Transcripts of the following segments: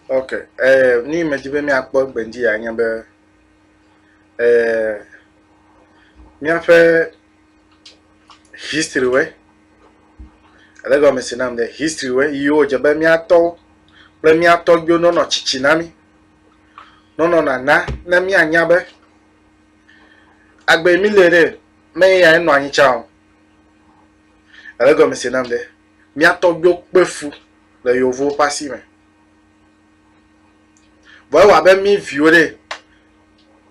ok eh, ni medzi be míakpɔ gbenji ya nye be eh, míaƒe history wɛ ele gɔme si nam de history wɛ yiwo dze be míatɔwo kple míatɔgbiwo nɔnɔ tsitsi na mí nɔnɔ nana ne míanya be agbe mi le ɖe me ya enɔ anyi tsa o ele gɔme si nam de míatɔgbiwo kpe fu le yevuwo ƒe asi me vɔ ewa be mí viwo ɖe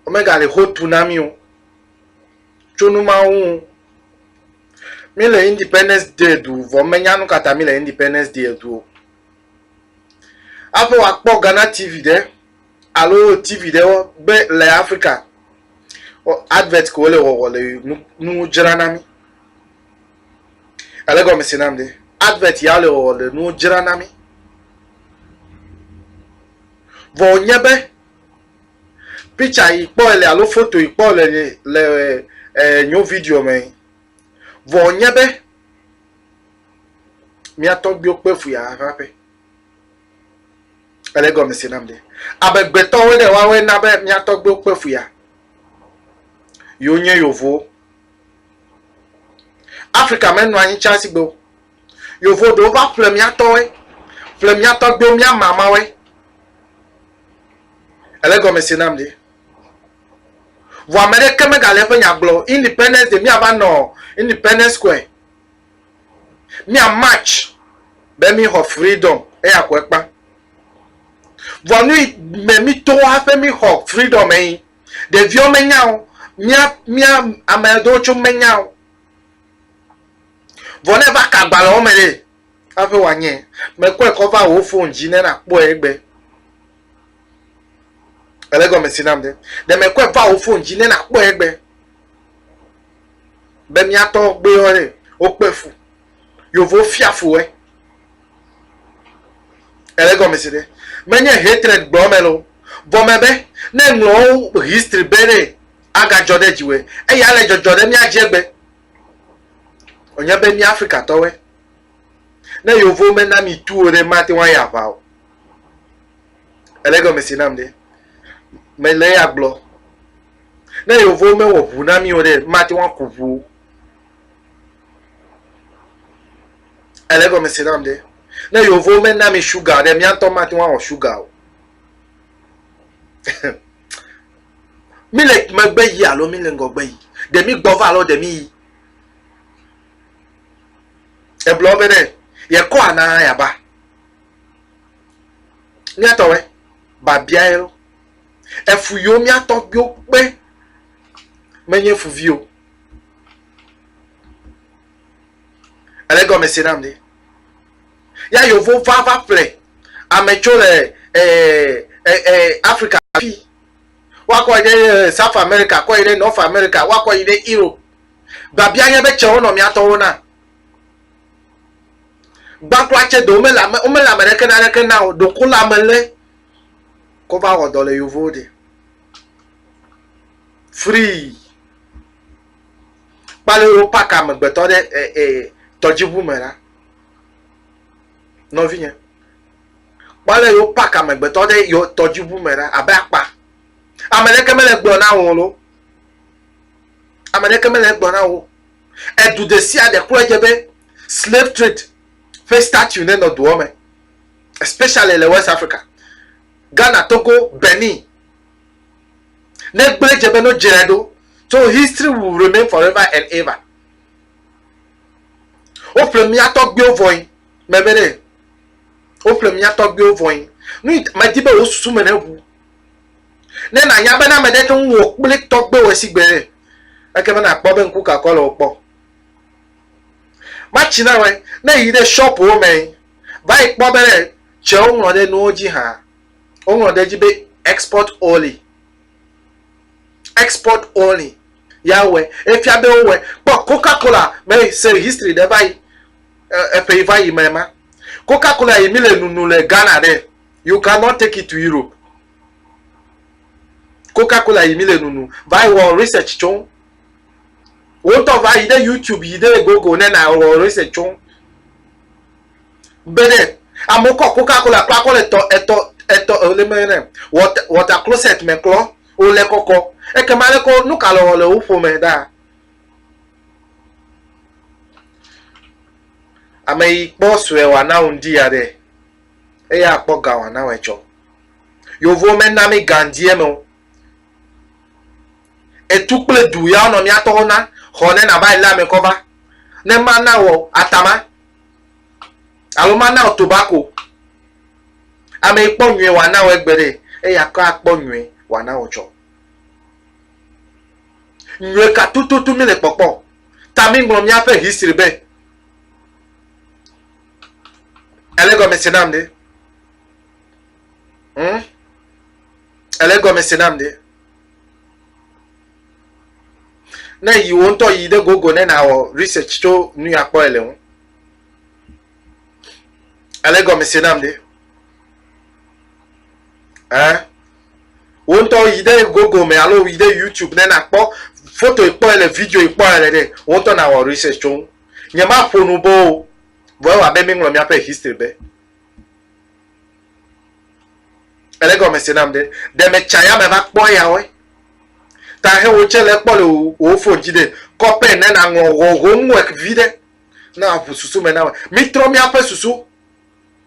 womegale ho tu na mí o tso nu ma ŋu. Mi le Independence Day du vɔ menya nu kata mi le Independence Day du o. Aƒe wakpɔ Ghana TV ɖe alo TV ɖe be le Afrika advert ko le wɔwɔ le nu dzra na mi. Ele gɔme si nam de advert ya le wɔwɔ le nu dzra na mi. Vɔ nye be Picture yi kpɔ ele alo foto yi kpɔ le le eh, nyo video me. Vɔ nye be mía tɔgbiwo kpe fu ya ƒe aƒe. Ele gɔme se nam ɖe. Amegbetɔwo ɖe woawoe na be mía tɔgbiwo kpe fu ya. Yewo nye yovowo. Afrika menɔ anyi tsa sigbe o. Yovo ɖewo va ƒle mía tɔwoe, ƒle mía tɔgbiwo, mía mamawoe. Ele gɔme se nam ɖe. Vɔ ame ɖeke megale eƒe nya gblɔ o. Independence Day, míava nɔ Independence Square. Mía march be mí xɔ freedom. Eya ko ekpa. Vɔ nuyi me mí to hafi mí xɔ freedom me yi. Ɖeviwo me nya o. Mía, mía ame ɖewo tso me nya o. Vɔ ne eva ka agbalẽwo me ɖe, hafi wòanye. Mekɔe kɔ va wò fon dzi ne nàkpɔe egbɛ. Èle egɔmesi nam ɖe? Ɖe mekɔe va wò fon dzi ne nàkpɔe egbɛ? Be mía tɔgbuiwo ɖe, wokpe fu. Yevuwo fia fu woe. Èle egɔmesi ɖe? Menye hatred gblɔm mele o. Vɔ mebe ne ŋlɔ wo history be ɖe, agadzɔ ɖe dziwɔe eye ale dzɔdzɔ ɖe mía dzi egbe. Wònye be mía Afrikatɔwoe. Ne yovo mena mi tu o ɖe, mate ŋu ayi aʋa o. Ele gɔme si nam ɖe. Mele ya gblɔ. Ne yovo mewɔ ʋu na mi o ɖe, mate ŋu aku ʋu o. Ele gɔme si nam ɖe. Ne yovo mena mi shuga ɖe, mía ŋutɔ mate ŋu awɔ shuga o. Mi le megbe yi alo mi le ŋgɔgbe yi. Ɖe mi gbɔ va alo ɖe mi yi. Egblɔ be ne yekɔ ana yaba. Miatɔ wɛ babia ye lo. Efu yo miatɔ yo kpe menye fuvi o. Ele gɔme se nam de. Ya yovo va va ple ame tso le eh, eh, eh, Africa fi. woakɔ yi ɖe eh, South America, kɔ yi ɖe North America, woakɔ yi ɖe Europe. Babia nye be tsewo nɔ mía tɔwo na. Gbãkula tse do womele ame womele ame ɖeke na ɖeke na o. Ɖoko le ame lé kɔ va wɔ dɔ le yovowo de. Free. Kpale wo pak amegbetɔ ɖe eh, eh, tɔdziʋu me la. Nɔvinye. Kpɔ ale yewo pak amegbetɔ ɖe yewo tɔdziʋu me ɖa abe akpa. Ame ɖeke mele egblɔ na wò lo. Ame ɖeke mele egblɔ na wò. Edu ɖe sia ɖe klɔ edze be slave trade ƒe statue ne nɔ dua me especially le West Africa. Ghana, Togo, Benin. Ne gblɔ edze be no dzrae ɖo so history will remain forever and ever. Woƒle mía tɔgbuiwo vɔe. Meme ɖe, woƒle mía tɔgbuiwo vɔe. Nui medi be wò susu me neʋu. Ne nànya be ne ame ɖe te ŋu wò kple tɔgbuiwò esi gbe ɖe, ekema nàkpɔ be ŋku kakɔ le wo kpɔ. Matsi na wòe, ne èyi ɖe shɔpuwo me va yi kpɔ be ɖe tsɛ woŋlɔ ɖe nuwo dzi hã. Woŋlɔ ɖe edzi be export only. Export only ya wɔe. Efia be wowɔe. Kpɔ Coca-Cola me se history ɖe va yi. eƒe yi va yi me ma coca cola yi mi le nunu le ghana ɖe you cannot take it to europe coca cola yi mi le nunu va yi wɔ research tso wo ŋutɔ va yi ɖe youtube yi ɖe google ne na wɔ research tso be ɖe amewo kɔ coca cola kpla kɔ le tɔ etɔ etɔ le me ne water water closet me klɔ wo le kɔkɔ ekema le kɔ nu ka le wɔ le wo ƒome ɖaa Ame yi kpɔ sue wòana ŋdi ya ɖe, eya kpɔ ga wòana wɔ etsɔ. Yovo mena mí gandiɛ me o. Etu kple du ya wonɔ mía tɔwo na xɔ ne nava yi lé ame kɔ va. Ne mana wɔ atama alo mana wɔ tobako. Ame yi kpɔ nyuie wòana wɔ egbe ɖe, eya kɔ akpɔ nyuie wòana wɔ tsɔ. Nyɔe ka tututu mí le kpɔkpɔ ta mí ŋlɔ mía ƒe history be? Ele egɔme se nam ɖe? Hm? Ele egɔme se nam ɖe? Ne yi wo ŋutɔ yi ɖe gogo ne nawɔ research tso nu ya kpɔ ele ŋu. Ele egɔme se nam ɖe? eh wo ŋutɔ yi ɖe gogo me alo yi ɖe youtube ne nakpɔ foto kpɔe le video kpɔe le ɖe wo ŋutɔ nawɔ research tso ŋu nye ma ƒo nu bo o vɔ ewa be míŋlɔ míaƒe history be ele gɔme se nam ɖe ɖe metsa ya me va kpɔ yawoe ta he wo tse le kpɔ le wo phone dzi ɖe kɔpɛ ne naŋlɔ homework vi ɖe na ʋu susu me na me mítrɔ míaƒe susu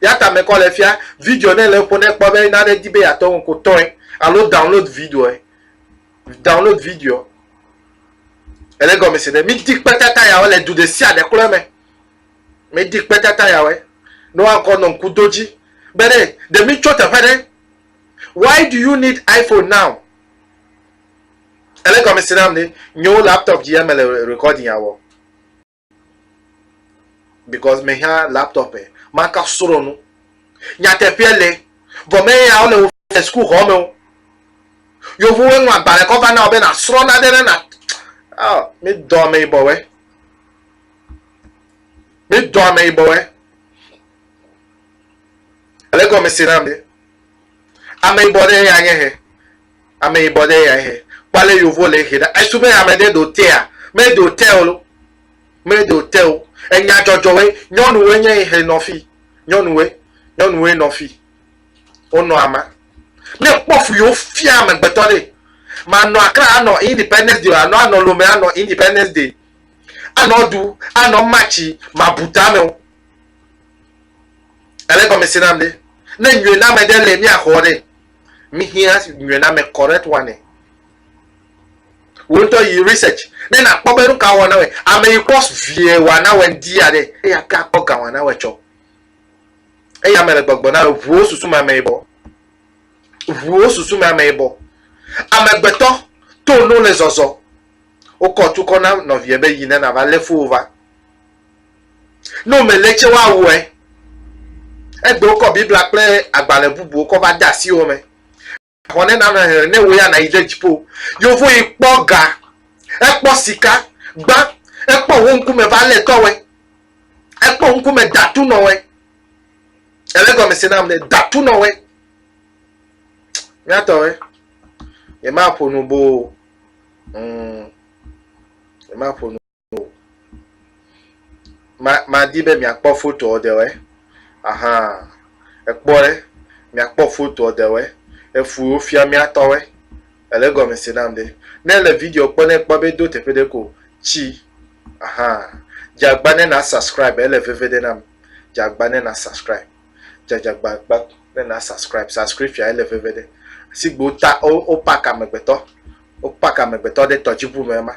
Ya ta mekɔ le fia video ne le ƒo ne kpɔ be nane di be yatɔ ŋu ko tɔe alo download videoe. Download video. Ele gɔme se ne mi di kpe tata yawe le du de sia de klo me. Mi di kpe tata yawe. No ankɔ no ŋku do dzi. Be ne de mi tso teƒe ne. Why do you need iPhone now? Ele gɔme se nam ne nyo laptop di ya me le recording ya wɔ. because me hã laptop e maka srɔ nu nyateƒea le vɔ me ya wole wo fɛ school xɔ me wo yovowo ŋlɔ agbalẽ kɔ va na wo be na srɔ na ɖe ne na ah mi dɔ ame yibɔ wɛ mi dɔ ame yibɔ wɛ ele gɔme si na mi ame yibɔ ɖe ya nye he Ameyibɔ ɖe ya he. Kpɔ ale yovo le ehe ɖa. Esu be ame ɖe ɖo tea. Meɖo te o. Meɖo te o. Enya dzɔdzɔwoe. Nyɔnuwoe nye ehe nɔ fi. Nyɔnuwoe. Nyɔnuwoe nɔ fi. Wonɔ ama. Ne kpɔ fu yewo fia amegbetɔ ɖe. Manɔ akra anɔ independence day o. Anɔ anɔ lome anɔ independence day. Anɔ du. Anɔ matchi. Mabu tame o. Ele gɔmese nam ɖe. Ne nyuie na me ɖe le mia xɔ ɖe. Mihiã nyrname correct one e. Wò ŋutɔ yi research ne nakpɔ be nu ka wɔna wɔe. Ame yi kpɔ vie wɔna wɔe ŋdi ya ɖe eyi ate akpɔ ga wɔna wɔe tsɔ. Eyi ame le gbɔgbɔ na wò ʋuwo susu me ame yibɔ. Ʋuwo susu me ame yibɔ. Amegbetɔ to no le zɔzɔ. Wokɔ tu kɔ na nɔvie be yi ne nava lé fowó va. Ne womele tse woawɔe. Egbe wokɔ Biblia kple agbalẽ bubuwo kɔ va de asi wo me. Xɔ ne nana hehe ne wò ya nàyi ɖe dziƒo. Yevu yi kpɔ ga, ekpɔ sika gbã, ekpɔ wo ŋkume va lé tɔwɔe, ekpɔ ŋkume datu nɔwɔe. Ele gɔme se nam ne datu nɔwɔe. Míatɔwɔe. Yemaƒo nu boo. Mm. Yemaƒo nu. o. Ma, madi be miakpɔ fotoɔ ɖewɔe. Aha, èkpɔ ɖe, miakpɔ fotoɔ ɖewɔe. Efu wofia mía tɔwɔe. Èle gɔme se nam ɖe. Ne èle video kpɔ ne èkpɔ be do teƒe ɖe ko tsi. Aha, dze agba ne na subscribe, ele veve ɖe nam. Dze agba ne na subscribe. Dze agba gba ne na subscribe. Subscription ele veve ɖe. Sigbe wota, wo, wo park amegbetɔ. Wo park amegbetɔ ɖe tɔdziŋu me ema.